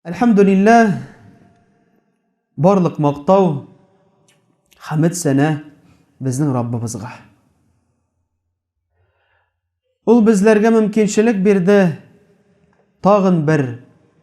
Әлхәмдулилләһ, барлык мактау, хәмд сәнә безнең Раббыбызга. Ул безләргә мөмкинчелек бирде тагын бер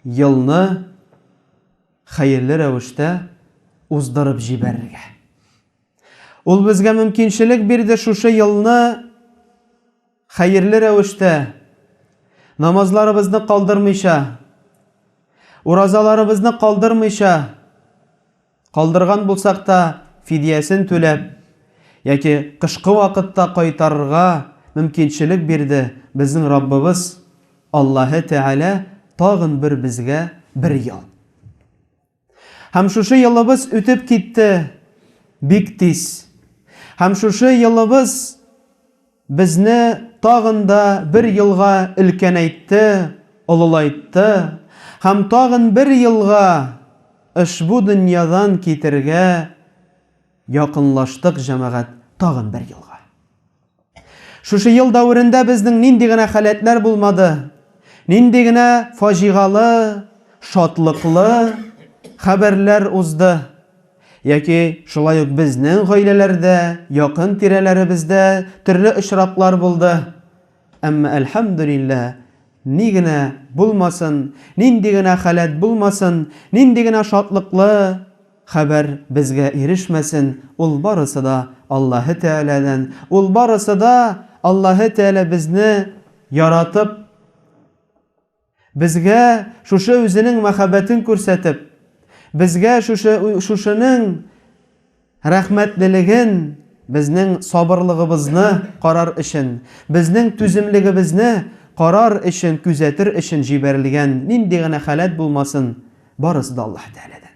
елны хәерле рәвештә уздырып җибәрергә. Ул безгә мөмкинчелек бирде шушы елны хәерле рәвештә намазларыбызны калдырмыйча, уразаларыбызны калдырмыйча, Калдырган булсак та, фидиясен түләп яки кышкы вакытта кайтарырга мөмкинчелек бирде безнең Раббыбыз Аллаһы Тәгалә тагын бер безгә бер ел. Һәм шушы елыбыз үтеп китте бик тиз. Һәм шушы елыбыз. Безне тагын да бер елга өлкәнәйтте, олылайтты һәм тагын бер елга ошбу дөньядан китергә якынлаштык, җәмәгать, тагын бер елга. Шушы ел дәверендә безнең нинди генә халәтләр булмады, нинди генә фаҗигалы, шатлыклы хәбәрләр узды. Яки шулай ук безнең гаиләләрдә, якын тирәләребездә төрле очраклар булды. Әмма, әлхәмдүлилләһ, ни генә булмасын, нинди генә халәт булмасын, нинди генә шатлыклы хәбәр безгә ирешмәсен, ул барысы да Аллаһы Тәгаләдән, ул барысы да Аллаһы Тәгалә безне яратып, Безгә шушы үзенең мәхәббәтен күрсәтеп, безгә шушы шушының рәхмәтлелеген, безнең сабырлыгыбызны карар өчен, безнең түземлегебезне карар өчен, күзәтер өчен җибәрелгән нинди генә халәт булмасын, барысы да Аллаһы Тәгаләдән.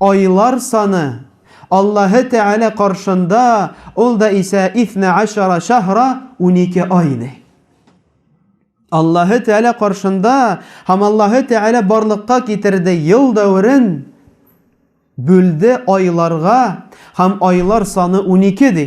айлар саны, Аллаһы Тәгалә каршында ул да исә исна ашара шәһра, унике ай, ди. Аллаһы Тәгалә каршында һәм Аллаһы Тәгалә барлыкка китерде ел дәверен, бүлде айларга һәм айлар саны унике, ди.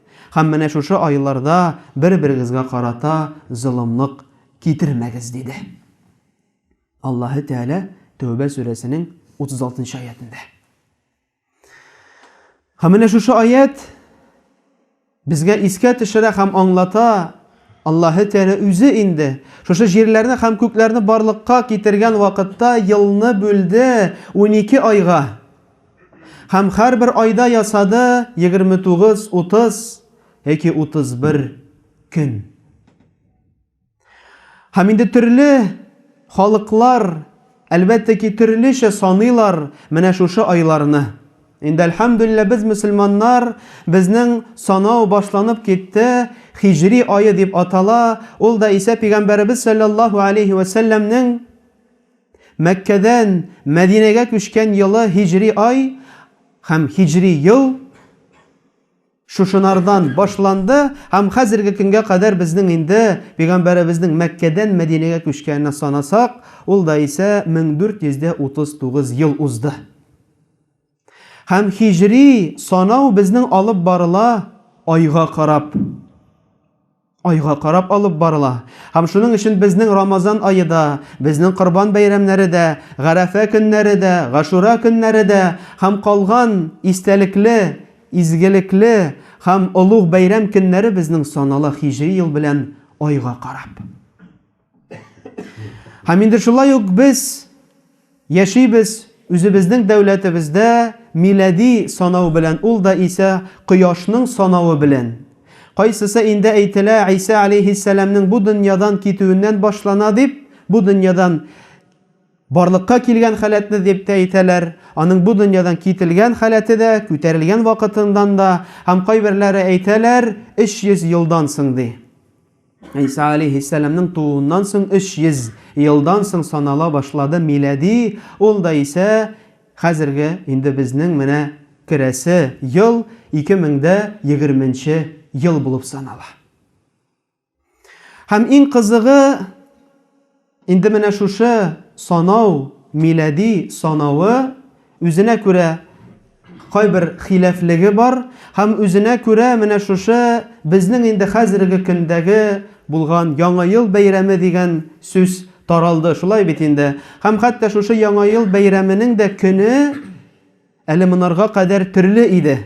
Һәм менә шушы айларда бер-берегезгә карата золымлык китермәгез, диде Аллаһы Тәгалә Тәүбә сүрәсенең 36 нчы аятендә. Һәм менә шушы аят безгә искә төшерә һәм аңлата, Аллаһы Тәгалә үзе инде шушы җирләрне һәм күкләрне барлыкка китергән вакытта елны бүлде 12 айга. Һәм һәрбер айда ясады 29, 30 яки 31 көн. Һәм инде төрле халыклар, әлбәттә ки, төрлечә саныйлар менә шушы айларны. Инде әлхәмдүлиллә без мөселманнар, безнең санау башланып китте, хиҗри айы дип атала, ул да Исә пигамбәребез саллаллаһу алейһи вә сәлләмнең Мәккәдән Мәдинәгә күчкән елы һиҗри ай һәм һиҗри ел шушынардан башланды һәм хәзерге көнгә кадәр безнең инде Пәйгамбәребезнең Мәккәдән Мәдинәгә күчкәненә санасак, ул да исә 1439 ел узды. Һәм һиҗри санау безнең алып барыла айга карап. Айга карап алып барыла. Һәм шуның өчен безнең Рамазан ае да, безнең Корбан бәйрәмнәре дә, Гарәфә көннәре дә, Гашура көннәре дә һәм калган истәлекле, изгелекле һәм олуг бәйрәм көннәре безнең санала һиҗри ел белән айга карап. Һәм инде шулай ук без яшибез үзебезнең дәүләтебездә милади санау белән, ул да исә кояшның санавы белән. Кайсысы инде әйтелә, Иса алейһиссәламнең бу дөньядан китүеннән башлана дип, бу дөньядан барлыкка килгән халәтне дип тә әйтәләр, аның бу дөньядан кителгән халәте дә, күтәрелгән вакытыннан да, һәм кайберләре әйтәләр, 300 елдан соң ди. Иса алейхиссәламнең тууыннан соң 300 елдан соң санала башлады милади, ул да исә хәзерге инде безнең менә керәсе ел 2020 нче ел булып санала. Һәм иң кызыгы, Инде менә шушы санау, милади санавы, үзенә күрә кайбер хилафлеге бар һәм үзенә күрә менә шушы безнең инде хәзерге көндәге булган Яңа ел бәйрәме дигән сүз таралды, шулай бит инде? Һәм хәтта шушы Яңа ел бәйрәменең дә көне әле монарга кадәр төрле иде.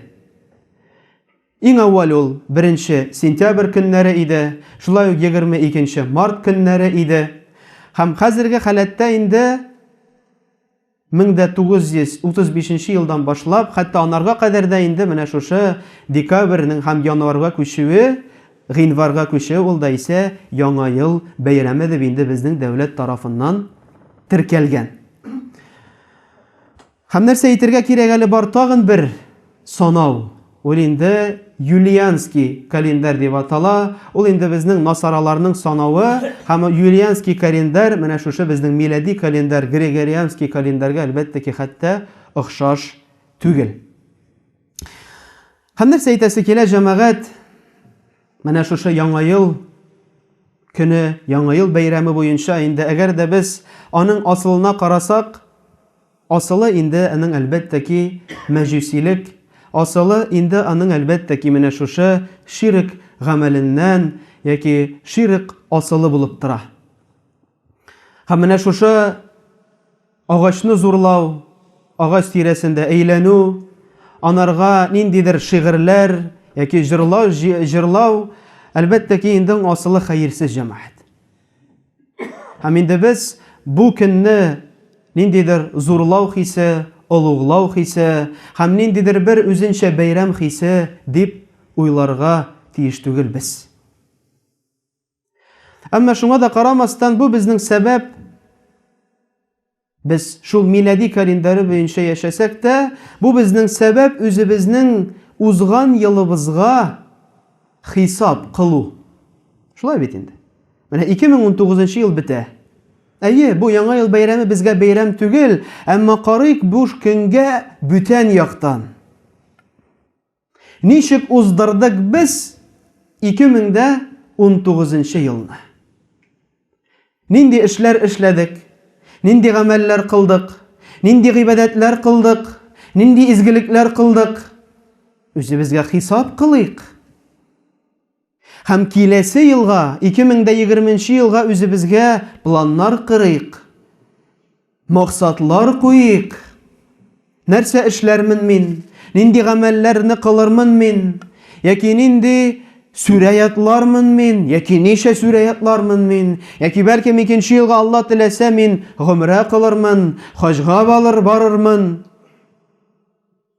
Иң әүвәл ул беренче сентябрь көннәре иде, шулай ук егерме икенче март көннәре иде. Һәм хәзерге халәттә инде мең дә тугыз йөз утыз бишенче елдан башлап, хәтта анарга кадәр дә инде менә шушы декабрьнең һәм январьга күчүе, гыйнварьга күчүе ул да исә Яңа ел бәйрәме дип инде безнең дәүләт тарафыннан теркәлгән. Һәм нәрсә әйтергә кирәк әле бар тагын бер санау, ул инде Юлианский календарь дип атала, ул инде безнең насараларның санавы, һәм Юлианский календарь менә шушы безнең милади календарь, Григорианский календарьгә әлбәттә ки хәтта охшаш түгел. Һәм нәрсә әйтәсе килә, җәмәгать? Менә шушы Яңа ел көне, Яңа ел бәйрәме буенча инде, әгәр дә без аның асылына карасак, асылы инде аның, әлбәттә ки, мәҗүсилек, асылы инде аның, әлбәттә ки, менә шушы ширек гамәленнән яки ширек асылы булып тора. Һәм менә шушы агачны зурлау, агач тирәсендә әйләнү, анарга ниндидер шигырьләр яки җырлау, җырлау, әлбәттә ки, инде асылы хәерсез җәмәгать. Һәм инде без бу көнне ниндидер зурлау хисе, олуглау хисе һәм ниндидер бер үзенчә бәйрәм хисе дип уйларга тиеш түгел без. Әмма шуңа да карамастан, бу безнең сәбәп. Без шул милади календаре буенча яшәсәк тә, бу безнең сәбәп үзебезнең узган елыбызга хисап кылу. Шулай бит инде. Менә 2019 ел бетә. Әйе, бу яңа ел бәйрәме безгә бәйрәм түгел, әмма карыйк буш көнгә бүтән яктан. Ничек уздырдык без 2019 нчы елны? Нинди эшләр эшләдек? Нинди гамәлләр кылдык? Нинди гыйбадәтләр кылдык? Нинди изгелекләр кылдык? Үзебезгә хисап кылыйк. Һәм киләсе елга, 2020 нче елга үзебезгә планнар кырыйк, максатлар куйыйк. Нәрсә эшләрмен мин? Нинди гамәлләрне кылырмын мин? Яки нинди сүрә ятлармын мин? Яки ничә сүрә ятлармын мин? Яки бәлкем икенче елга Алла теләсә мин гомрә кылырмын, хаҗга балыр барырмын.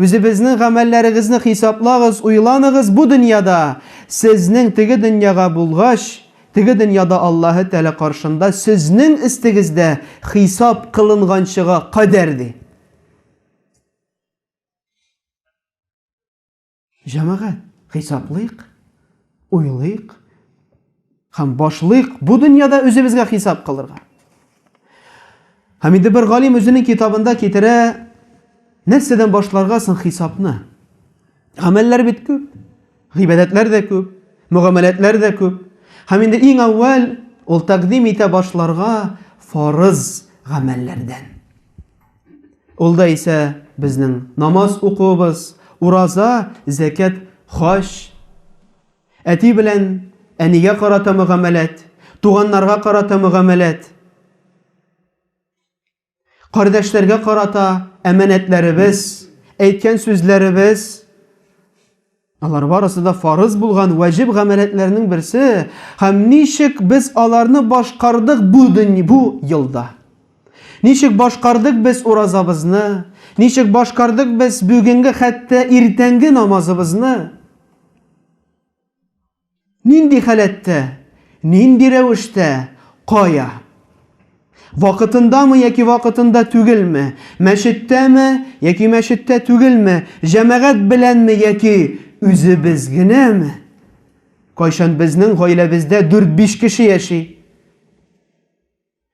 Үзебезнең гамәлләрегезне хисаплагыз, уйланыгыз, бу дөньяда сезнең теге дөньяга булгач, теге дөньяда Аллаһы Тәгалә каршында сезнең өстегез дә хисап кылынганчыга кадәр, ди. Җәмәгать, хисаплыйк, уйлыйк һәм башлыйк бу дөньяда үзебезгә хисап кылырга. Һәм инде бер галим үзенең китабында китерә, нәрсәдән башларга соң хисапны? Гамәлләр бит күп, гыйбадәтләр дә күп, мөгамәләтләр дә күп. Һәм инде иң әүвәл ул тәкъдим итә башларга фарыз гамәлләрдән. Ул да исә безнең намаз укуыбыз, ураза, зәкят, хаҗ, әти белән әнигә карата мөгамәләт, туганнарга карата мөгамәләт, кардәшләргә карата әманәтләребез, әйткән сүзләребез, Алар барысы да фарыз булган вәҗиб гамәләтләрнең берсе, һәм ничек без аларны башкардык бу дөнья, бу елда? Ничек башкардык без уразабызны? Ничек башкардык без бүгенге хәтта иртәнге намазыбызны? Нинди халәттә, нинди рәвештә, кая? Вакытындамы яки вакытында түгелме, мәчеттәме яки мәчеттә түгелме, җәмәгать беләнме яки үзебез генәме? Кайчан безнең гаиләбездә дүрт-биш кеше яши?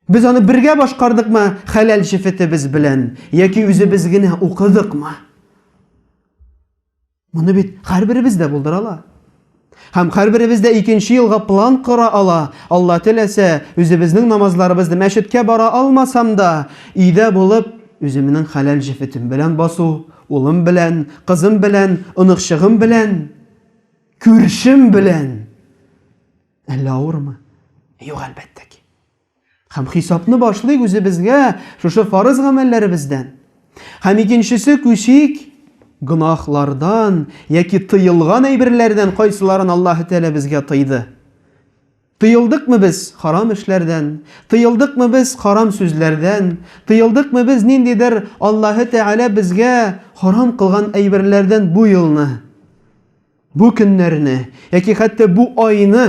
Без аны бергә башкардыкмы хәләл шифетебез белән, яки үзебез генә укыдыкмы? Моны бит һәрберебез дә булдыра ала. Һәм һәрберебез дә икенче елга план кора ала. Алла теләсә, үзебезнең намазларыбызны мәчеткә бара алмасам да, өйдә булып, үземнең хәләл шифетем белән басу, улым белән, кызым белән, оныкчыгым белән, күршем белән Әллә авырмы? Юк, әлбәттә ки. Һәм хисапны башлыйк үзебезгә шушы фарыз гамәлләребездән. Һәм икенчесе күчик гөнаһлардан яки тыелган әйберләрдән кайсыларын Аллаһ Тәгалә безгә тыйды. Тыелдыкмы без харам эшләрдән? Тыелдыкмы без харам сүзләрдән? Тыелдыкмы без ниндидер Аллаһ Тәгалә безгә харам кылган әйберләрдән бу елны? Бу көннәрне, яки хәтта бу айны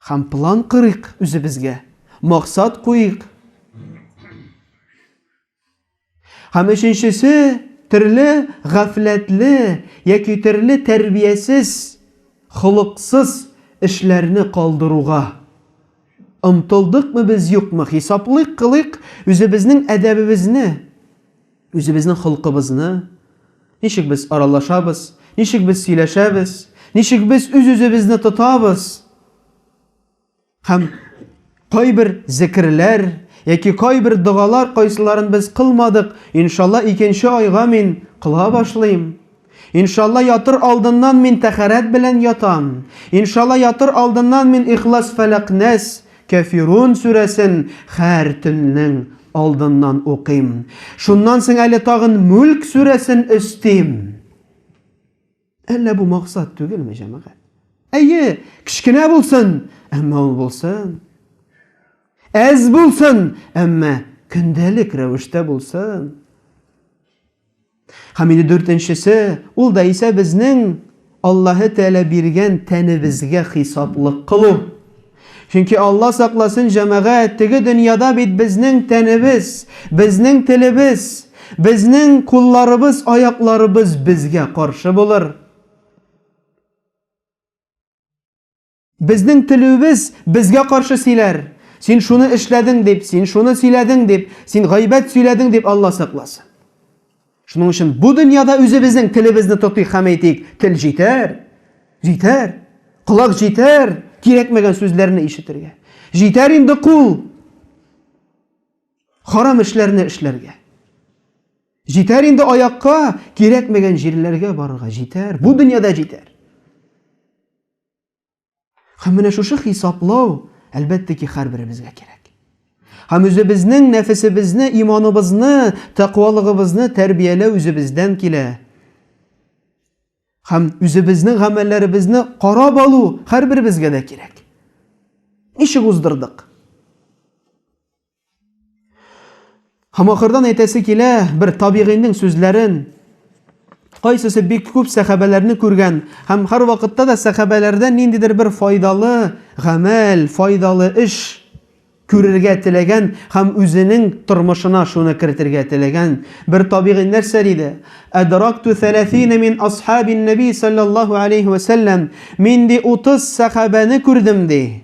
һәм план корыйк үзебезгә, максат куйыйк. Һәм өченчесе, төрле гафләтле яки төрле тәрбиясез, холыксыз эшләрне калдыруга омтылдыкмы без, юкмы, хисаплыйк, кылыйк, үзебезнең әдәбебезне, Үзебезнең холкыбызны, ничек без аралашабыз, ничек без сөйләшәбез, ничек без үз-үзебезне тотабыз, һәм кайбер зекерләр яки кайбер догалар кайсыларын без кылмадык, иншалла икенче айга мин кыла башлыйм, Иншалла ятыр алдыннан мин тәхәрәт белән ятам. Иншалла ятыр алдыннан мин Ихлас Фәләкъ-Нәс, Кәфирун сүрәсен хәр төннең алдыннан укыйм. Шуннан соң әле тагын Мүлк сүрәсен өстим. Әллә бу максат түгелме, җәмәгать? Әйе, кечкенә булсын, әмма ул булсын. Әз булсын, әмма көндәлек рәвештә булсын. Һәм инде дүртенчесе, ул да исә безнең Аллаһы Тәгалә биргән тәнебезгә хисаплык кылу. Чөнки, Алла сакласын, җәмәгать, теге дөньяда бит безнең тәнебез, безнең телебез, безнең кулларыбыз, аякларыбыз безгә каршы булыр. Безнең көлүебез безгә каршы сөйләр. Син шуны эшләдең дип, син шуны сөйләдең дип, син гайбәт сөйләдең дип Алла сакласын. Шуның өчен бу дөньяда үзебезнең телебезне тотыйк һәм әйтик, тел җитәр, җитәр, колак җитәр, кирәкмәгән сүзләрне ишетергә. Җитәр инде кул, харам эшләрне эшләргә. Җитәр инде аякка, кирәкмәгән җирләргә барырга җитәр, бу дөньяда җитәр. Һәм менә шушы хисаплау, әлбәттә ки, һәрберебезгә кирәк. Һәм үзебезнең нәфесебезне, иманыбызны, тәкъвалыгыбызны тәрбияләү үзебездән килә. Һәм үзебезнең гамәлләребезне карап алу һәрберебезгә дә кирәк. Ничек уздырдык? Һәм ахырдан әйтәсе килә, бер табигыйның сүзләрен, кайсысы бик күп сәхәбәләрне күргән һәм һәр вакытта да сәхәбәләрдән ниндидер бер файдалы гамәл, файдалы эш күрергә теләгән һәм үзенең тормышына шуны кертергә теләгән бер табигый нәрсә диде. Әдракту 30 мин асхабин наби саллаллаху алейхи ва саллям. Мин ди 30 сәхабәне күрдем ди.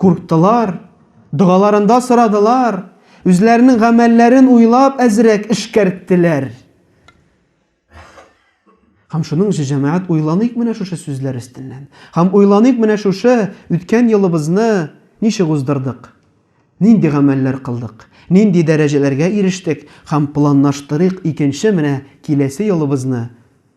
Курктылар, догаларында сорадылар, үзләренең гамәлләрен уйлап әзрәк эшкәрттеләр. Һәм шуның өчен, җәмәгать, уйланыйк менә шушы сүзләр өстеннән. Һәм уйланыйк менә шушы үткән елыбызны ничек уздырдык, нинди гамәлләр кылдык, нинди дәрәҗәләргә ирештек, һәм планлаштырыйк икенче менә киләсе елыбызны,